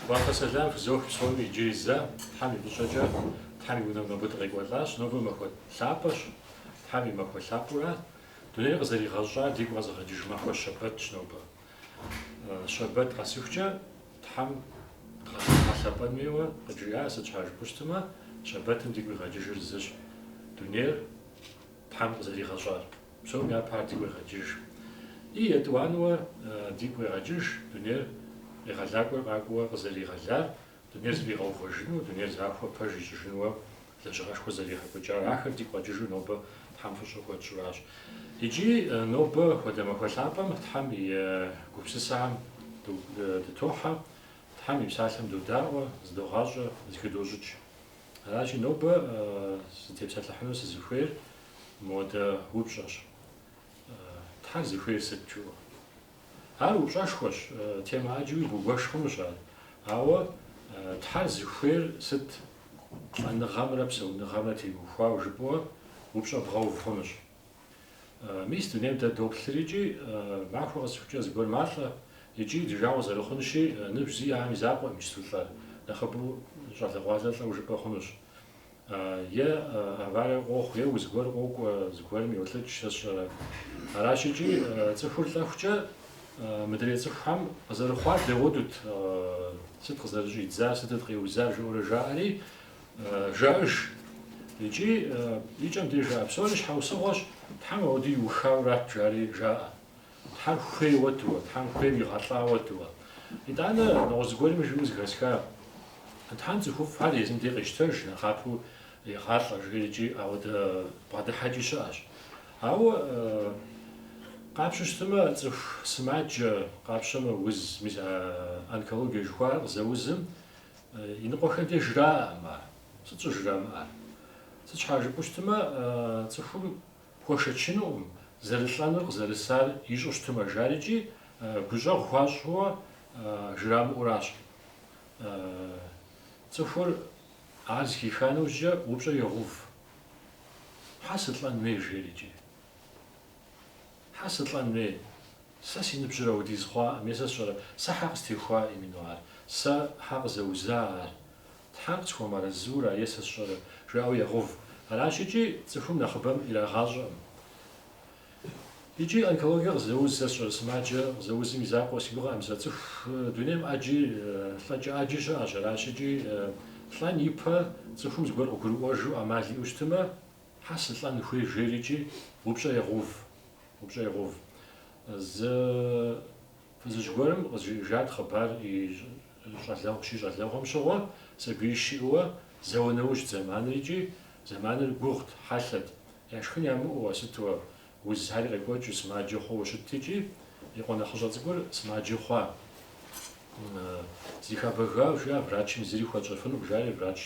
Фӏэхъус сэлам фызох псоми иджыри зэ, Тхьэм и фӏыщӏэкӏэ, Тхьэм и унэм нобэ дыкъекӏуэлӏащ, нобэ махуэ лъапӏэщ, Тхьэм и махуэ лъапӏэурэ, дунейр къызэригъэщӏар дигу къэзыгъэкӏыж махуэ щэбэтщ нобэ. Щэбэт къэсыхукӏэ, Тхьэм дгъэлъэпӏэн хуейуэ, къыджиӏа, сыт щхьа жыпӏэу щытмэ, щэбэтым дигу къигъэкӏыжыр зыщ, дунейр Тхьэм къызэригъэщӏар псом япэ ар дигу къегъэкӏыж. И етӏуанэуэ дигу къегъэкӏыж дунейр Къегъэлакӏуэр къакӏуэуэ къызэригъэлар, дунейр зэфӏигъэувэжыну, дунейр захуэ пэж ищӏыжынуэ лэжьыгъэшхуэ зэригъэкӏуэкӏар. Ахэр дигу къэкӏыжу нобэ Тхьэм фӏыщӏэ хуэтщӏуращ. Икӏи нобэ хуэдэ махуэ лъапӏэм Тхьэм и гупсысэхэм дытохьэ, Тхьэм и псалъэм додаӏуэ, зыдогъащӏэ, зыхыдощӏыкӏ. Аращи, нобэ зытепсэлъыхьыну сызыхуейр модэ упщӏэщ. Тхьэр зыхуейр сыт жыӏэу? Ар упщӏэшхуэщ, темэ ӏэджэуи бгуэш хъунущ ар. Ауэ Тхьэр зыхуейр сыт? Лӏэныгъэмрэ псэуныгъэмрэ теухуауэ жыпӏэурэ упщӏэ бгъэув хъунущ. Мис дунейм дэ доплъыр икӏи, махуэ къэсыхукӏэ зыгуэр малӏэ, икӏи ди жагъуэ зэрыхъунщи, ныбжь зиӏэм и закъуэӏым иджыпсту лӏэр нэхъыбэу щӏалэгъуалэ лӏэу жыпӏэ хъунущ. Е аварие къохъу, е уз гуэр къокӏуэ, зыгуэрым йолӏыкӏ, сэ сщӏэрэ. Аращ икӏи цӏыхур лӏэхукӏэ мыдрей цӏыхухэм къызэрыхъуар дауэдэут, сыт къызэрыщӏидзар, сытыт къеузар жаӏэурэ жаӏэри, Жаӏэж. Икӏи и кӏэм деж жаӏэ, Псори щхьэусыгъуэщ, Тхьэм ауэдэ иухауэ арат, жари жаӏэ. Тхьэр хуей хуэдэуэ, Тхьэм хуейм игъэлӏа хуэдэуэ. Итӏанэ нэгъуэщӏ зыгуэрми жиӏэу зэхэсха, Тхьэм цӏыхуфӏхэр езым дей къещтэж, нэхъапэу егъалӏэ, жери икӏи ауэдэ бгъэдыхьэкӏи щыӏэщ. Ауэ къапщтэу щытымэ, цӏыху сымаджэ къапщтэмэ, уз, мис а онкологие жыхуаӏэр къызэузым, Иныкъуэхэм деж жраӏэкъым ар. Сыт щӏыр жрамыӏэр? Сыт щхьа жыпӏэу щытмэ, цӏыхур хуэшэчынукъым, зэрылӏэнур къызэрысар ищӏу щытмэ, жари икӏи гущӏэгъу хуащӏууэ жрамыӏуращ. Цӏыхур ар зыхиха нэужькӏэ упщӏэр егъэув. Хьэ сылӏэн хуей жери икӏи. Хьэ сылӏэн хуей? Сэ си ныбжьыр ауэдиз хъуакъым е сэ сщӏэрэ? Сэ хьэ къыстехуа именно ар? Сэ хьэ къызэуза ар? Тхьэр къысхуэмыарэзыура е сэ сщӏэрэ? жаӏэу ягъэув. Аращ икӏи цӏыхум нэхъыбэм ирагъащӏэкъым. Икӏи онкологие къызэуз сэ сщӏэрэ сымаджэ къызэузым и закъуэ си гугъэӏым сэ цӏыху дунейм ӏэджи лӏэкӏэ ӏэджи щыӏэщ. Аращ икӏи лӏэн ипэ цӏыхум зыгуэр къыгурыӏуэжу ӏэмал иӏэу щытымэ, Хьэ сылӏэн хуей жейрикӏи упщӏэ егъув, упщӏэ егъув. Зы фызыжь гуэрым къызжиӏэжат хъыбар и щӏалэгъу щищӏалэгъуэм щыгъуэ, сабий щиӏэуэ зауэ нэужь зэманрикӏи, зэманыр гугъут, хьэлъэт, яшхын ямыӏэуэ сытуэ Узхэри къекӏуэкӏыу сымаджэ хъууэ щытт икӏи, и къуэ нэхъыщӏэ цӏыкӏур сымаджэ хъуа? Зыхабэга, жиӏа врачым, зыри хуэтщӏэфынукъым, жаӏэри, врач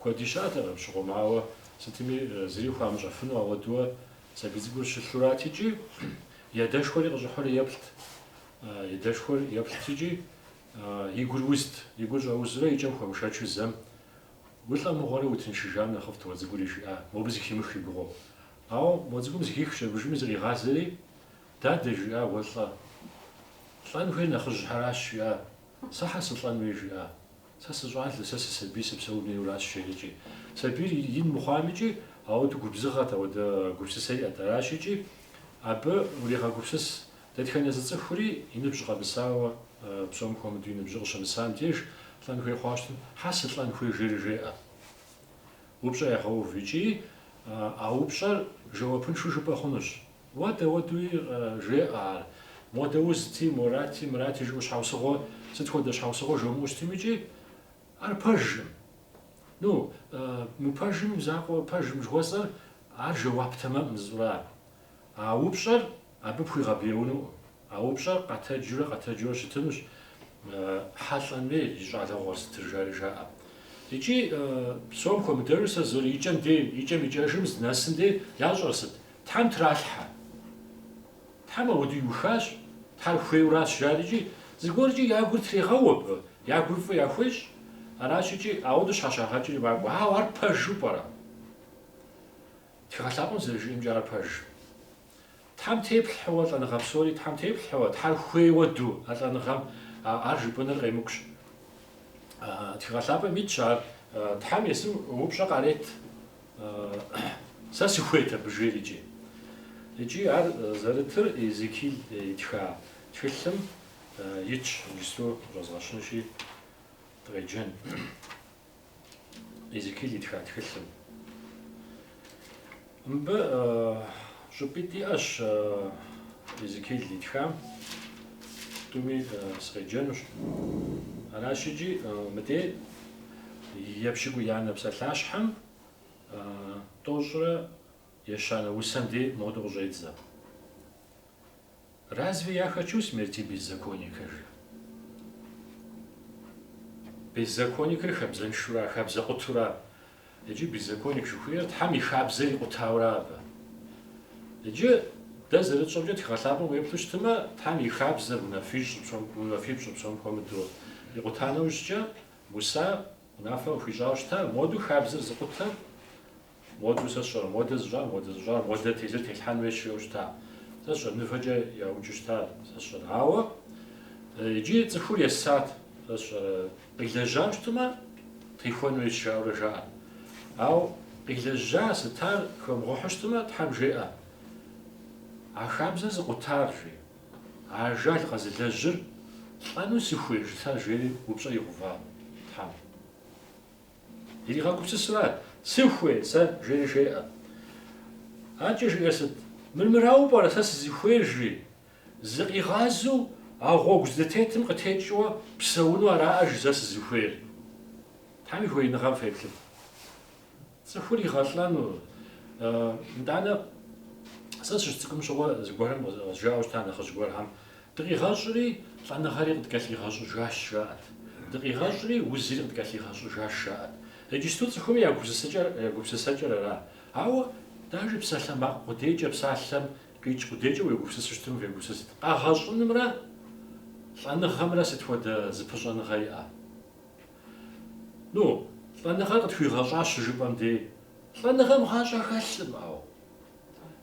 куэди щыӏэтэкъым, щыгъуэм ауэ, сытми зыри хуамыщӏэфыну ауэдууэ сабий цӏыкӏур щылъурат икӏи, ядэшхуэри къыщӏыхьури еплът, ядэшхуэр еплът икӏи, и гур узт, и гур щӏэузурэ икӏэм хуэмышэчу зэм, Улӏэ мыгъуэрэ утыншыжам нэхъыфӏт уэ цӏыкӏури, жиӏа, мобы зыхимых и гугъэу, Ауэ мо цӏыкӏум зыхихщ аби жьыми зригъазэри, Дадэ, жиӏа, уэ лӏэ. Лӏэн хуейр нэхъыжьхьэращ, жиӏа. Сэ хьэ сылӏэн хуей, жиӏа. Сэ сыщӏалэ, сэ сысабий, сыпсэун хуейуращ, жеӏэ икӏи. Сабийр ин мыхъуамикӏи, ауэдэ губзыгъэт, ауэдэ гупсысэ иӏэт. Аращ икӏи абы урегъэгупсыс, дэтхэнэ зы цӏыхури и ныбжь къэмысауэ, псом хуэмыдэу и ныбжьыр къыщымысам деж, лӏэн хуей хъуа щытым, хьэ сылӏэн хуей, жери жеӏэ. Упщӏэ егъэув икӏи а упщӏэр жэуапыншэу жыпӏэ хъунущ. Ауэдэ ауэдуи жеӏэ ар. Модэ узти, морати, мырати жыӏэу щхьэусыгъуэ сыт хуэдэ щхьэусыгъуэ жумыӏэу щытым икӏи ар пэжым. Ну, мыпэжым, закъуэ пэжым жыхуэсӏэр ар жэуап тэмэмӏым зыщӏырар. А упщӏэр абы пхуигъэбэяунукъым. А упщӏэр къэтэджурэ къэтэджурэ щытынущ хьэ лӏэн хуей зи щӏалэгъуэр сытыр жари жаӏэ. Икӏи псом хуэмыдэжу сэ зыр икӏэм дей, икӏэм икӏэжым здынэсым дей ящӏэр сыт? Тхьэм тралъхьэ. Тхьэм ауэдэ иухащ, Тхьэр хуейуращ жарикӏи, зыгуэркӏи я гур трегъэуэ абы, я гур фӏы яхуещӏ. Аращ икӏи ауэдэу щхьэщагъэкӏри макӏуэ. Ауэ ар пэжу пӏэрэ? Тхыгъэ лъапӏэм зэрыжиӏэмкӏэ ар пэж. Тхьэм теплъхьэуэ лӏэныгъэ псори Тхьэм теплъхьэуэ, Тхьэр хуей ауэду а лӏэныгъэм, ар жыпӏэныр къемыкӏущ. Тхыгъэ лъапӏэм итщ ар, Тхьэм есым упщӏэ къарет, Сэ сыхуейт абы жейрикӏи. Икӏи ар зэрытыр Иезекил итха тхылъым итщ, иджыпсту къыщӏэзгъэщынщи, дыкъеджэн. Езекиил итха тхылъым. Мыбы щӏыпӏитӏ иӏэщ Езекиил итхам. Тӏуми сыкъеджэнущ. Аращ икӏи мыдей епщыкӏуиянэ псалъащхьэм тӏощӏрэ ещанэ усэм дей модэу къыщӏедзэ. Разве я хочу смерти беззаконника, жи. Беззаконникыр хабзэншура, хабзэкъутура? Иджы беззаконник жыхуиӏэр Тхьэм и хабзэр икъутаура абы. Иджы дэ зэрытщӏэмкӏэ тхыгъэлъапӏэм уеплъу щытымэ, Тхьэм и хабзэр унафипщӏыр псом хуэмыдэу икъута нэужькӏэ, Муса унафэ къыхуищӏауэ щыта, моду хабзэр зыкъутэр Моду, сэ сщӏэрэ, модэ зыщӏар, модэ зыщӏар, модэ тезыр телъхьэн хуейщ жиӏэу щыта? Сэ сщӏэрэ, мывэкӏэ яукӏыу щыта, сэ сщӏэрэ? Ауэ иджы цӏыхур есат, сэ сщӏэрэ, къилэжьам щытмэ, техуэн хуейщ жаӏэурэ жаӏэрт. Ауэ къилэжьа, сытар хуэмыгъуэхьу щытмэ, Тхьэм жеӏэ, А хабзэр зыкъутар, жи, ажал къэзылэжьыр лӏэну сыхуей, жытар, жери упщӏэ игъува Тхьэм. Иригъэгупсысырат, Сыхуей, сэ, жери жеӏэ. Аркӏэ жиӏэр сыт? Мыр мырауэ пӏэрэ, сэ сызыхуейр, жи. Зыкъигъазэу а гъуэгу зытетым къытекӏыуэ псэуну араӏэ, жи, сэ сызыхуейр. Тхьэм и хуеиныгъэм феплъыт. Цӏыхур игъэлӏэну, итӏанэ сэ сыщыцӏыкӏум щыгъуэ зыгуэрхэм къызжаӏэу щыта нэхъыжь гуэрхэм, Дыкъигъэщӏри, лӏэныгъэри къыдкӏэлъигъэщӏыжащ, жаӏэт. Дыкъигъэщӏри, узри къыдкӏэлъигъэщӏыжащ, жаӏэт. Иджысту цӏыхуми я гупсысэкӏэр ара. Ауэ, даже псалъэ макъ къудейкӏэ, псалъэм къикӏ къудейкӏэ уегупсысу щытым, фегупсысыт. Къэгъэщӏынымрэ лӏэныгъэмрэ сыт хуэдэ зыпыщӏэныгъэ иӏэ? Ну, лӏэныгъэр къытхуигъэщӏащ щыжыпӏэм дей, лӏэныгъэм гъащӏэ хэлъым, ауэ.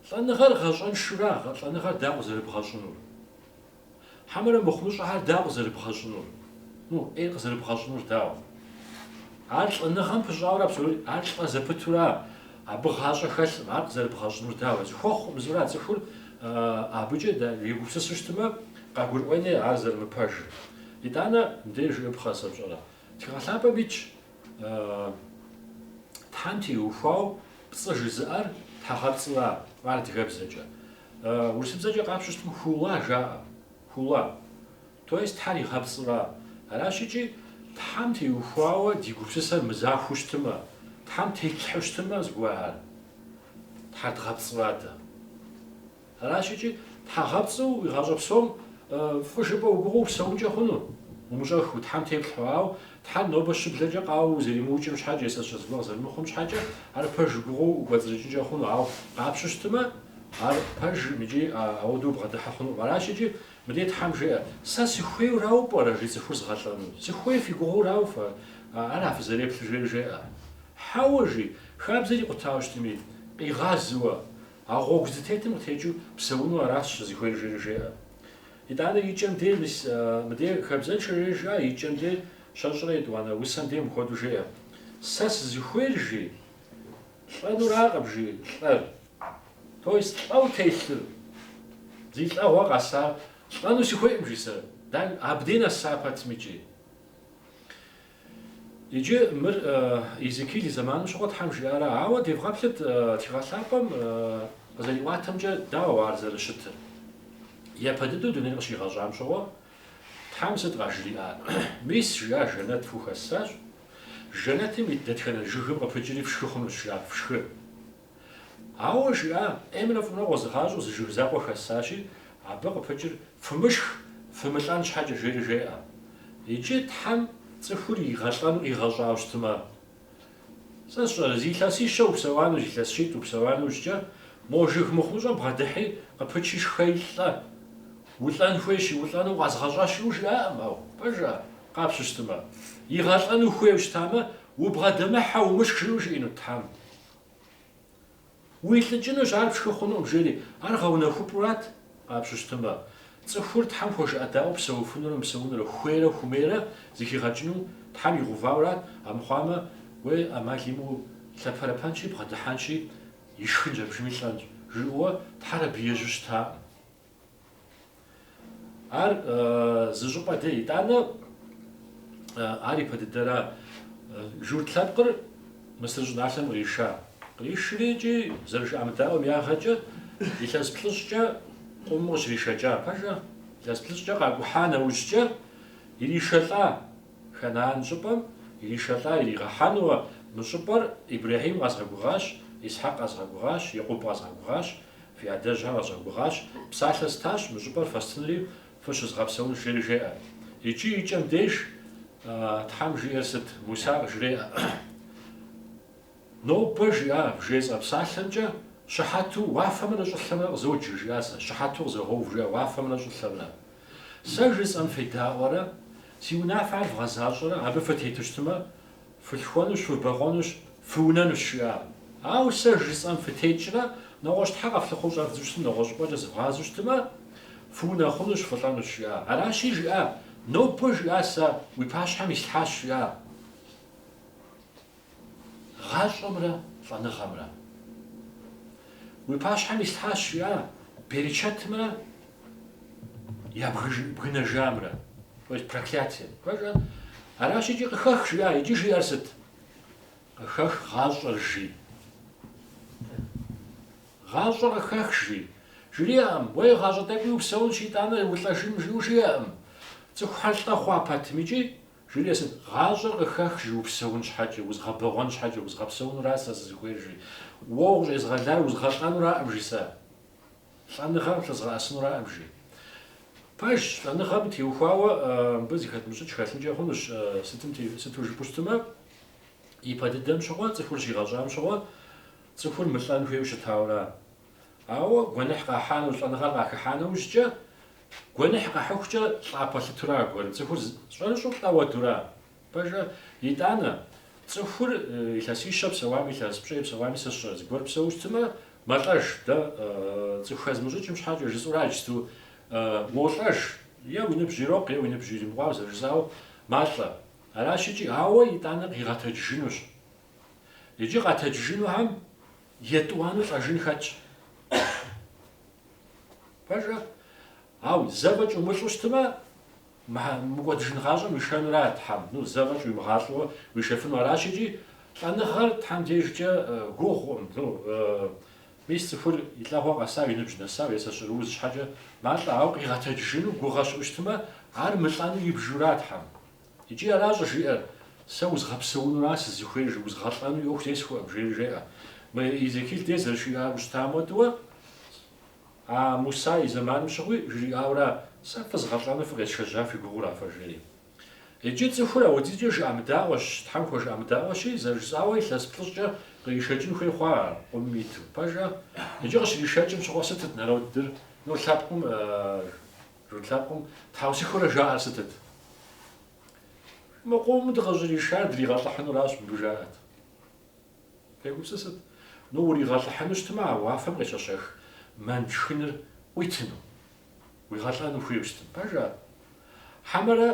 Лӏэныгъэр гъащӏэншура, лӏэныгъэр дауэ къызэрыбгъэщӏынур? Хьэмэрэ мыхъумыщӏэхьэр дауэ къызэрыбгъэщӏынур? Ну, ӏей къызэрыбгъэщӏынур дауэ? Ар лӏэныгъэм пыщӏауэ абсолют, ар лӏэ зэпытура, абы гъащӏэ хэлъым, ар къызэрыбгъэщӏынур дауэ? Зыхуэхъу мызура цӏыхур абыкӏэ егупсысу щытмэ, къагурыӏуэни ар зэрымыпэжыр. Итӏанэ, мыбдеж жыӏэпхъэ, сэ сщӏэрэ, Тхыгъэлъапӏэм итщ Тхьэм теухуауэ пцӏы жызыӏэр тхьэгъэпцӏыра адыгэбзэкӏэ? Урысыбзэкӏэ къапщу щытым хула жаӏэ, хула, то есть Тхьэр игъэпцӏыра. Аращ икӏи Тхьэм теухуауэ ди гупсысэр мызахуэу щытымэ, Тхьэм тетлъхьэу щытымэ зыгуэхьэр, Тхьэр дгъэпцӏыра дэ. Аращ икӏи тхьэгъэпцӏыу уи гъащӏэ псом фӏы жыпӏэ уи гугъэу упсэункӏэ хъуну? Умыщӏэху Тхьэм теплъхьэуэ, ауэ Тхьэр нобэ щыблэкӏэ къауэу узэримыукӏым щхьэкӏэ, е, сэ сщӏэ, зыгуэр зэрымыхъум щхьэкӏэ, ар пэж уи гугъэу укӏуэцӏрыкӏынкӏэ хъуну, ауэ къапщу щытмэ, ар пэжым икӏи ауэдэу бгъэдыхьэ хъунукъым. Аращ икӏи мыдей Тхьэм жеӏэ, Сэ сыхуейурауэ пӏэрэ жи цӏыхур згъэлӏэну? Сыхуей фи гугъэурауэ фэ ара фызэреплъыр? жери жеӏэ. Хьэуэ, жи, хабзэр икъутауэ щытми, къигъазуэ, А гъуэгу зытетым къытекӏыу псэуну аращ сызыхуейр, жери жеӏэ. Итӏанэ и кӏэм дей мис мыдей хабзэншэ, жери жаӏэ, и кӏэм дей щэщӏрэ етӏуанэ усэм дей мыхуэду жеӏэ. Сэ сызыхуейр, жи, лӏэнуракъым, жи, лӏэр. То есть лӏэу телъыр, зи лӏэгъуэ къэсар лӏэну сыхуейкъым, жи, сэ. Да, абдей нэса пэтми икӏи. Иджы мыр Езекиил и зэманым щыгъуэ Тхьэм жиӏара? Ауэ девгъэплъыт Тхыгъэ Лъапӏэм къызэриӏуатэмкӏэ дауэ ар зэрыщытыр? Япэ дыдэу дунейр къыщигъэщӏам щыгъуэ Тхьэм сыт къажриӏар? Мис, жиӏа, жэнэт фхухэссащ. Жэнэтым ит дэтхэнэ жыгым къыпыкӏри фшхы хъунущ, жиӏа, фшхы. Ауэ жиӏа, ӏеймрэ фӏымрэ къозыгъащӏэу зы жыг закъуэ хэссащи, абы къыпыкӏыр фымышх, фымылӏэн щхьэкӏэ жери жеӏэ. Иджы Тхьэм цӏыхур игъэлӏэну къигъэщӏауэ щытмэ? Сэ сщӏэрэ, зы илъэсищэ упсэуану, зы илъэс щитӏ упсэуа нэужькӏэ, мо жыг мыхъумыщӏэм бгъэдыхьи, къыпычи шхи лӏэ, улӏэн хуейщи улӏэну укъэзгъэщӏащ жиӏэу жиӏакъым, ау, пэжа, къапщу щытмэ? Игъэлӏэну хуейуэ щытамэ, убгъэдэмыхьэ, умышх жиӏэу жиӏэнут Тхьэм? Уилӏыкӏынущ, ар пшхы хъунукъым, жери. Ар гъэунэхупӏурат, къапщу щытмэ. Цӏыхур Тхьэм хуэжыӏэдаӏуэу псэуфынурэ мыпсэунурэ, хуейрэ хумейрэ зыхигъэкӏыну Тхьэм игъэувауэрат, амыхъуамэ, уей ӏэмал имыӏэу лъэпэрэпэнщи, бгъэдыхьэнщи, ишхынщ, абдежми лӏэнщ, жиӏэуэ Тхьэр абы ежьэу щытакъым. Ар зы щӏыпӏэ дэ, итӏанэ ар и пэ дыдэра. Журт лъэпкъыр Мысыр щӏыналъэм къриша. Къришри икӏи зэрыжыӏэмыдаӏуэм ягъэкӏэ илъэс плӏыщӏкӏэ къумым къыщришэкӏа пэжа, илъэс плӏыщӏкӏэ къакӏухьа нэужькӏэ иришэлӏа Ханаан щӏыпӏэм, иришэлӏа иригъэхьэнуэ мы щӏыпӏэр Ибрэхьим къэзгъэгугъащ, Исхьэкъ къэзгъэгугъащ, Якъуб къэзгъэгугъащ, Фи адэжьхэр къэзгъэгугъащ, псалъэ стащ, мы щӏыпӏэр фэстынри фыщызгъэпсэун жери жеӏэ. Икӏи и кӏэм деж Тхьэм жиӏэр сыт? Муса къыжреӏэ, Нобэ жиӏа, вжесӏэ псалъэмкӏэ, Щыхьэту уафэмрэ щӏылъэмрэ къызоджэ, жиӏа сэ, Щыхьэту къызогъэув, жиӏа уафэмрэ щӏылъэмрэ. Сэ жысӏэм федаӏуэрэ, си унафэр вгъэзащӏэрэ, абы фытету щытмэ, Фылъхуэнущ, фыбэгъуэнущ, фыунэнущ, жиӏа. Ауэ сэ жысӏэм фытекӏрэ, нэгъуэщӏ Тхьэ къэфлъыхъуэу щӏэвдзэу щытым нэгъуэщӏ щӏыпӏэкӏэ зывгъазэу щытымэ, фыунэхъунущ, фылӏэнущ, жиӏа. Аращи, жиӏа, Нобэ, жиӏа, сэ уи пащхьэм ислъхьащ, жиӏа. Гъащӏэмрэ лӏэныгъэмрэ. Уи пащхьэм ислъхьащ, жиӏа, берычэтымрэ Я бгыжын бгынэжамрэ, то есть проклятием. Пэжа? Аращ икӏи къыхэх, жиӏа, икӏи жиӏэр сыт? Къыхэх гъащӏэр жи. Гъащӏэр къыхэх жи. Жриӏэӏым, уэ гъащӏэ тӏэкӏуи упсэунщ, итӏанэ улӏэжын жиӏэу жиӏэӏым. Цӏыхухэр лӏэ хъуа пэтым икӏи жиӏэр сыт? Гъащӏэр къыхэх жи, упсэун щхьэкӏэ, узгъэбэгъуэн щхьэкӏэ, узгъэпсэунура сэ сызыхуейр жи. Уэ ущӏезгъэлар узгъэлӏэнураӏым жи сэ. Лӏэныгъэм лъызгъэӏэсынураӏым жи. Пэжщ, лӏэныгъэм теухуауэ мыбы зыхэтмыщӏыкӏ хэлъынкӏэ хъунущ, сытым те, сыту жыпӏэу щытымэ, ипэ дыдэм щыгъуэ, цӏыхур щигъэщӏам щыгъуэ, цӏыхур мылӏэн хуейуэ щытауэра. Ауэ гуэныхь къахьа нэу, лӏэныгъэр къахыхьа нэужькӏэ, гуэныхь къихьыхукӏэ лӏа пэлъытура аргуэру, цӏыхур зы, щӏэрыщӏэу лӏэ хуэдура? Пэжа? Итӏанэ, цӏыхур илъэсищэ псэуами, илъэс пщӏей псэуами сэ сщӏэрэ зыгуэр псэуу щытымэ, мэлӏэж, дэ цӏыху хэзмыщӏыкӏым щхьэкӏэ жысӏура иджыпсту уолӏэж, е уи ныбжь ирокъу, е уи ныбжь иримыкъуауэ зэрыжысӏауэ малӏэ. Аращ икӏи, ауэ итӏанэ къигъэтэджыжынущ. Иджы къэтэджыжынухэм етӏуанэу лӏэжын хэтщ. Пэжа? Ау, зэ фӏэкӏ умылӏу щытмэ, мыкӏуэдыжын гъащӏэм уишэнура Тхьэм? Ну, зэ фӏэкӏ уимыгъалӏэуэ уишэфыну аращ икӏи, лӏэныгъэр Тхьэм дежкӏэ гугъуӏым. Ну, мис цӏыхур и лӏэгъуэ къэсау, и ныбжь нэсау, е сэ сщӏэрэ уз щхьэкӏэ малӏэ, ауэ къигъэтэджыжыну гугъэ щыӏэу щытмэ, ар мылӏэну ибжура Тхьэм? Икӏи аращ щӏыжиӏэр, Сэ узгъэпсэунура сызыхуейр, жи, узгъэлӏэну и ӏуэху зесхуэӏым, жери жеӏэ. Мы Иезекиил дей зэрыжиӏауэ щытам хуэдэуэ, А Муса и зэманым щыгъуи жриӏауэра, Сэ фызгъэлӏэну фыкъесшэжьа фи гугъура фэ? жери. Иджы цӏыхур ауэдизкӏэ жыӏэмыдаӏуэщ, Тхьэм хуэжыӏэмыдаӏуэщи, зэрыжысӏауэ илъэс плӏыщӏкӏэ къришэкӏын хуей хъуа ар, къумым иту? Пэжа? Иджы къыщришэкӏым щыгъуэ сытыт народыр, ну лъэпкъым, журт лъэпкъым, тхьэусыхурэ жаӏэр сытыт? Мы къумым дыкъыщӏришар дригъэлӏыхьынуращ, мыбы жаӏэт. Фегупсысыт, ну уригъэлӏыхьыну щытмэ а уафэм къещэщэх мэн шхыныр ӏуитыну? Уигъэлӏэну хуейуэ щытым, пэжа? Хьэмэрэ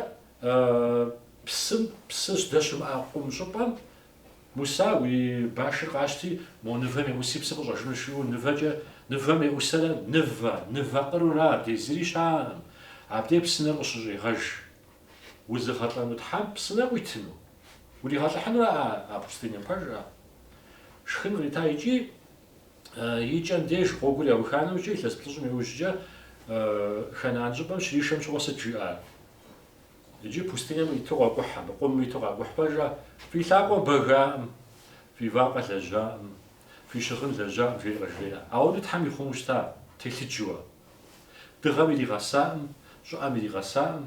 псым псы здэщымыӏэ къум щӏыпӏэм Муса уи башыр къащти, мо нывэм еӏуси псы къыщӏэжынущ жиӏэу нывэкӏэ, нывэм еӏусэрэ нывэ, нывэ къырура, абдей зыри щыӏэкъым, абдей псынэр къыщыщӏигъэж. Узыгъэлӏэну Тхьэм псынэ къуитыну? Уригъэлӏыхьынура а а пустынем? Пэжа? Шхын кърита икӏи и кӏэм деж гъуэгур яуха нэужькӏэ илъэс плӏыщӏым иужькӏэ Ханаан щӏыпӏэм щришэм щыгъуэ сыт жиӏар? Иджы пустынем иту къокӏухь абы, къумым иту къакӏухь. Пэжа? Фи лъакъуэ бэгаӏым, фи вакъэ лэжьаӏым, фи щыгъын лэжьаӏым, жери къажреӏэ. Ауэдэу Тхьэм ихъуму щыта, телъыджыуэ? Дыгъэм иригъэсаӏым, щӏыӏэм иригъэсаӏым,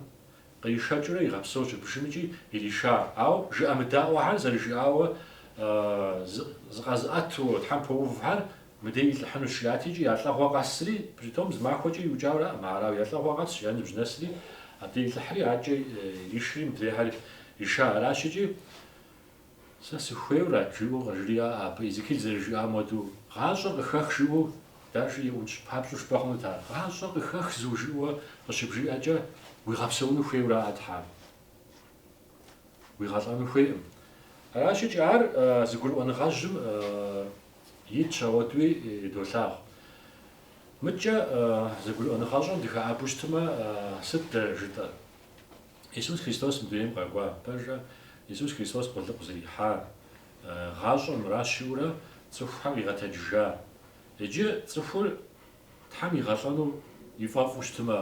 къришэкӏыурэ игъэпсэу щӏыбжым икӏи ириша. Ауэ жыӏэмыдаӏуэхэр зэрыжиӏауэ зыкъэзыӏэту Тхьэм пэувхэр мыдей илӏыхьынущ жиӏати икӏи я лӏэгъуэ къэсри, притом зы махуэкӏэ иукӏауэраӏым, арауэ я лӏэгъуэ къэсщ, я ныбжь нэсри, абдей илӏыхьри, адкӏэ иришри мыдрейхэр ириша. Аращ икӏи Сэ сыхуейуэрат, жиӏэу къыжриӏэ абы, Изекил зэрыжиӏам хуэдэу. Гъащӏэр къыхэх жиӏэу даже еӏукӏ, папщӏэу жыпӏэ хъунут ар? Гъащӏэр къыхэх зыуэ жиӏэу къыщыбжиӏэкӏэ, уигъэпсэуну хуейуэра а Тхьэм? Уигъэлӏэну хуейкъым. Аращ икӏи ар зыгурыӏуэныгъэжьым итщ, ауэдуи долъагъу. Мыдкӏэ зыгурыӏуэныгъэщӏэм дыхэӏэбу щытмэ, сыт дэ жытӏэр? Исус Христос мы дунейм къэкӏуа пэжрэ Исус Христос къулыкъу зэрихьар, гъащӏэр мыращ жиӏэурэ цӏыхухэм къигъэтэджыжа? Иджы цӏыхур Тхьэм игъэлӏэну ифӏэфӏу щытмэ,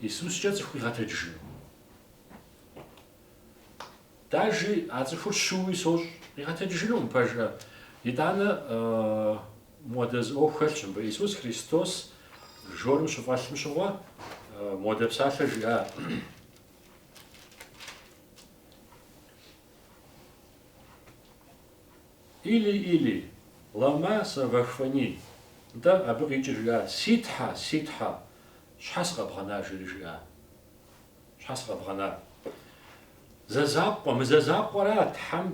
Исускӏэ цӏыху къигъэтэджыжыну? Даже а цӏыхур щыуи сощӏ, къигъэтэджыжынукъым пэжрэ. Итӏанэ мыуэдэ зы ӏуэху хэлъщ мыбы. Иисус Христос жорым щыфӏэлъым щыгъуэ мыуэдэ псалъэ жиӏа? Или, Или, лама савахфани? Нтӏэ, абы къикӏыр жиӏа, Си Тхьэ, Си Тхьэ, щхьэ сыкъэбгъэна? жери жиӏа. Щхьэ сыкъэбгъэнар? Зэ закъуэ, мы зэ закъуэра Тхьэм,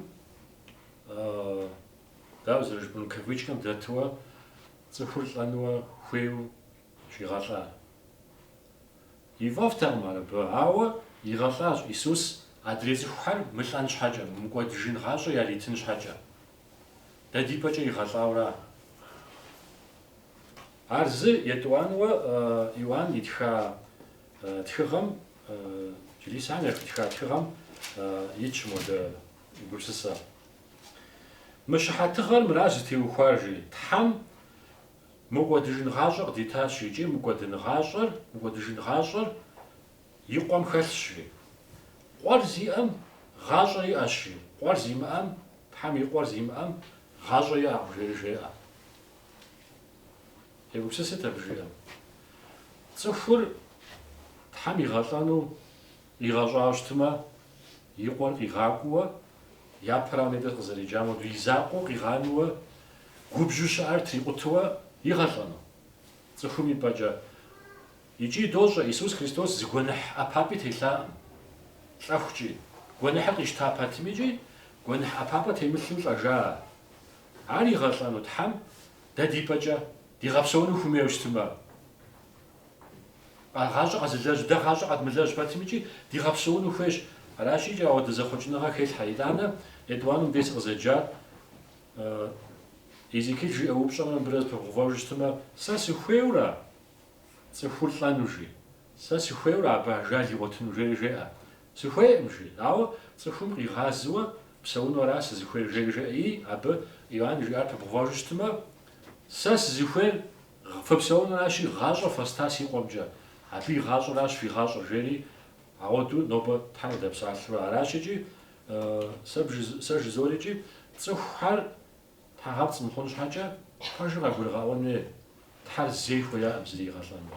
дауэ зэрыжыпӏэну, кавычкэм дэтуэ цӏыхур лӏэнуэ хуейуэ щигъэлӏар? Ифӏэфӏтэкъым ар абы, ауэ игъэлӏащ Исус адрей цӏыхухэр мылӏэн щхьэкӏэ, мыкӏуэдыжын гъащӏэ яритын щхьэкӏэ. Дэ ди пӏэкӏэ игъэлӏауэра? Ар зы етӏуанэуэ Иоанн итха тхыгъэм, чылисэм яхуитха тхыгъэм итщ мыуэдэ гупсысэ. Мы щыхьэтыгъэр мыращ зытеухуар, жи, Тхьэм мыкӏуэдыжын гъащӏэ къыдитащ икӏи мыкӏуэдын гъащӏэр, мыкӏуэдыжын гъащӏэр и къуэм хэлъщ, жи. Къуэр зиӏэм гъащӏэ иӏэщ, жи, къуэр зимыӏэм, Тхьэм и къуэр зимыӏэм гъащӏэ иӏэкъым, жери жеӏэ. Егупсысыт абы жиӏэм. Цӏыхур Тхьэм игъэлӏэну къигъэщӏауэ щытмэ, и къуэр къигъакӏуэуэ, япэрауэ нетӏэ къызэреджам хуэдэу, и закъуэу къигъанууэ, губжьу щыӏэр трикъутуэ игъэлӏэну? Цӏыхум и пӏэкӏэ. Икӏи дощӏэ, Исус Христос зы гуэныхь ӏэпапӏи телъаӏым. Лӏэхукӏи, гуэныхьыр къищта пэтмикӏи, гуэныхь ӏэпапӏэ темылъу лӏэжа ар. Ар игъэлӏэну Тхьэм дэ ди пӏэкӏэ дигъэпсэуну хуимейуэ щытымэ, гъащӏэ къэзылэжь, дэ гъащӏэ къэдмылэжь пэтми икӏи дигъэпсэуну хуейщ. Аращ икӏи ауэдэ зэхъуэкӏыныгъэ хелъхьэ. Итӏанэ етӏуанэм дей сыкъызэджар Езекииль жиӏэ упщӏэмрэ мыбырэ зэпыбгъувэжу щытымэ, сэ сыхуейура цӏыхур лӏэну, жи, сэ сыхуейура абы ажал игъуэтыну, жери жеӏэ. Сыхуейӏым, жи. Ауэ цӏыхум къигъазыуэ псэуну ара сызыхуейр? жери жеӏэ. Абы Иоанн жиӏар пыбгъувэжу щытмэ, Сэ сызыхуейр фыпсэунуращи, гъащӏэ фэста си къуэмкӏэ, абы и гъащӏэращ фи гъащӏэр, жери ауэду нобэ Тхьэр къыдэпсалъура. Аращ икӏи, сэ жызорикӏи, цӏыхухьэр тхьэгъэпцӏ мыхъун щхьэкӏэ, пэжыр къагурыгъэӏуэн хуей, Тхьэр зэи хуеяӏым зыри игъэлӏэну.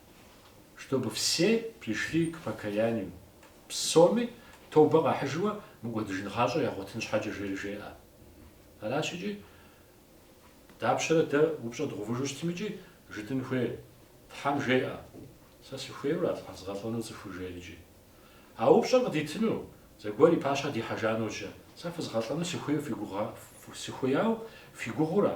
чтобы все пришли к покаянию, псоми тобэ къахьыжыуэ мыкӏуэдыжын гъащӏэ ягъуэтын щхьэкӏэ, жери жеӏэ. Аращ икӏи, дапщэрэ дэ упщӏэ дгъувыжу щытым икӏи жытӏэн хуейр? Тхьэм жеӏэ, Сэ сыхуейура згъэлӏэну цӏыхур жери икӏи? А упщӏэр къыдитыну, зэгуэр и пащхьэ дихьэжа нэужь, Сэ фызгъэлӏэну сыхуейуэ фи гугъа, сыхуеяуэ фи гугъура?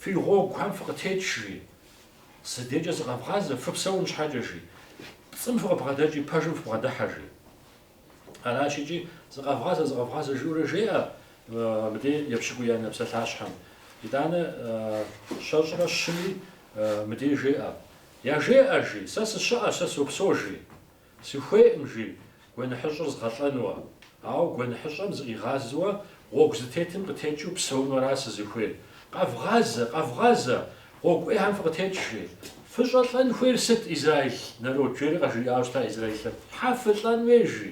Фи гъуэгухэм фыкъытекӏ, жи. Си декӏэ зыкъэвгъазэ, фыпсэун щхьэкӏэ, жи. Пцӏым фыкъыбгъэдэкӏи, пэжым фыбгъэдыхьэ, жи. Аращ икӏи, Зыкъэвгъазэ, зыкъэвгъазэ, жиӏэурэ жеӏэ мыбдей епщыкӏуиянэ псалъащхьэм. Итӏанэ щэщӏрэ щыми мыбдей жеӏэ. Яжеӏэ, жи. Сэ сыщыӏэ, сэ сопсо, жи. Сыхуейӏым, жи, гуэныхьыщӏыр згъэлӏэнуэ. Ауэ гуэныхьыщӏэм зыкъигъазэуэ гъуэгу зытетым къытекӏыу псэунуэра сызыхуейр? Къэвгъазэ, къэвгъазэ! Гъуэгу ӏейхьэм фыкъытекӏ, жи. Фыщӏэлӏэн хуейр сыт, израил народ? жери къажриӏауэ щыта израилым. Хьэ фылӏэн хуей, жи.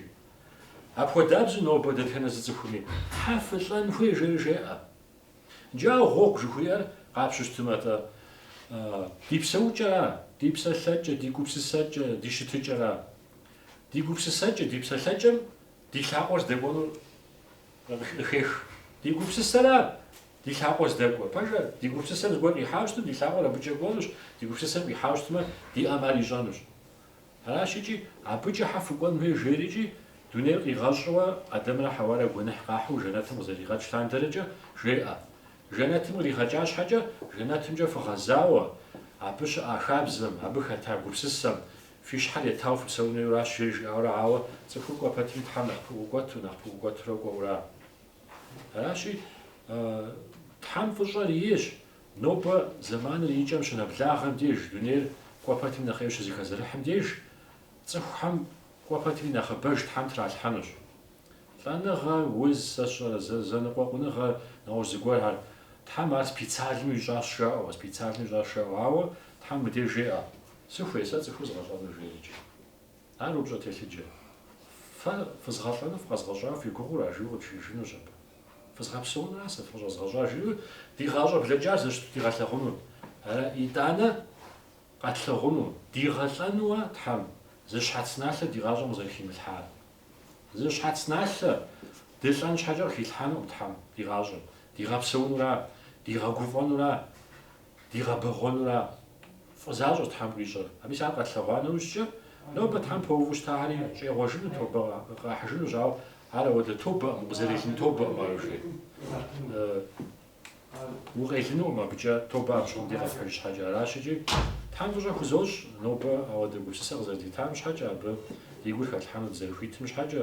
Апхуэдабзэу нобэ дэтхэнэ зы цӏыхуми, Хьэ фылӏэн хуей, жери жеӏэ. Иджы гъуэгу жыхуиӏэр къапщтэу щытымэ-тӏэ? Ди псэукӏэра, ди псэлъэкӏэ, ди гупсысэкӏэ, ди щытыкӏэра? Ди гупсысэкӏэ, ди псэлъэкӏэм ди лъакъуэр здэкӏуэнур къыхех. Ди гупсысэра, ди лъакъуэр здэкӏуэ? Пэжыр, ди гупсысэм зыгуэр къихьауэ щытым, ди лъакъуэр абыкӏэ кӏуэнущ, ди гупсысэм къихьауэ щытмэ, ди ӏэм ар ищӏэнущ. Аращ икӏи, абыкӏэ хьэ фыкӏуэн хуей жери икӏи, дунейр къигъэщӏыуэ Адэмрэ Хьэуарэ гуэныхь къахьу жэнэтым къызэригъэкӏ лъандэркӏэ жеӏэ, Жэнэтым къригъэкӏа щхьэкӏэ, жэнэтымкӏэ фыгъэзауэ, абы щыӏа хабзэм, абы хэта гупсысэм, фи щхьэр етауэ фыпсэун хуейуращ жери жиӏауэрэ ауэ цӏыхур кӏуэ пэтми Тхьэм нэхъ пыӏукӏуэту, нэхъ пыӏукӏуэтурэ кӏуэура. Аращи, Тхьэм фӏыщӏэр иейщ, Нобэ зэманыр и кӏэм щынэблагъэм деж, дунейр кӏуэ пэтми нэхъей щызэхэзэрыхьым деж, цӏыхухэм кӏуэ пэтми нэхъыбэж Тхьэм тралъхьэнущ. Лӏэныгъэ, уз, сэ сщӏэрэ, зэ, зэныкъуэкъуныгъэ, нэгъуэщӏ зыгуэрхэр. Тхьэм ар специальнэу ищӏащ жаӏэу, специальнэу ищӏащ жаӏэу, ауэ Тхьэм мыбдеж жеӏэ, Сыхуей сэ цӏыхур згъэлӏэну? жери икӏи. Ар упщӏэ телъыджэ. Фэ фызгъэлӏэну фыкъэзгъэщӏауэ фи гугъэу ара жиӏэу къыджиӏэжынущ абы. Фызгъэпсэунура сэ фыкъыщӏэзгъэщӏар жиӏэу ди гъащӏэ блэкӏар зэрыщыту дигъэлъэгъуну? Ара, итӏанэ, къэтлъэгъуну, дигъэлӏэнуэ Тхьэм, зы щхьэц налъэ ди гъащӏэм къызэрыхимылъхьар? Зы щхьэц налъэ дылӏэн щхьэкӏэ къыхилъхьэнукъым Тхьэм ди гъащӏэм. Дигъэпсэунура? Дигъэгуфӏэнура? Дигъэбэгъуэнура? фӏызащӏэщ Тхьэм къищӏэр. А мис ар къэтлъэгъуа нэужькӏэ, нобэ Тхьэм поуву щытахэри щӏегъуэжыну, тобэ къахьыжынущ, ауэ ар ауэдэ тобэкъым, укъызэрелын тобэкъым ар жи. Укъелынукъым абыкӏэ, тобэ апщыгъуэм дей къэпхьыж щхьэкӏэ. Аращ икӏи Тхьэм фӏыщӏэ хузощӏ, нобэ ауэдэ гупсысэ къызэрыдитам щхьэкӏэ, абы ди гур хэтлъхьэну дызэрыхуитым щхьэкӏэ.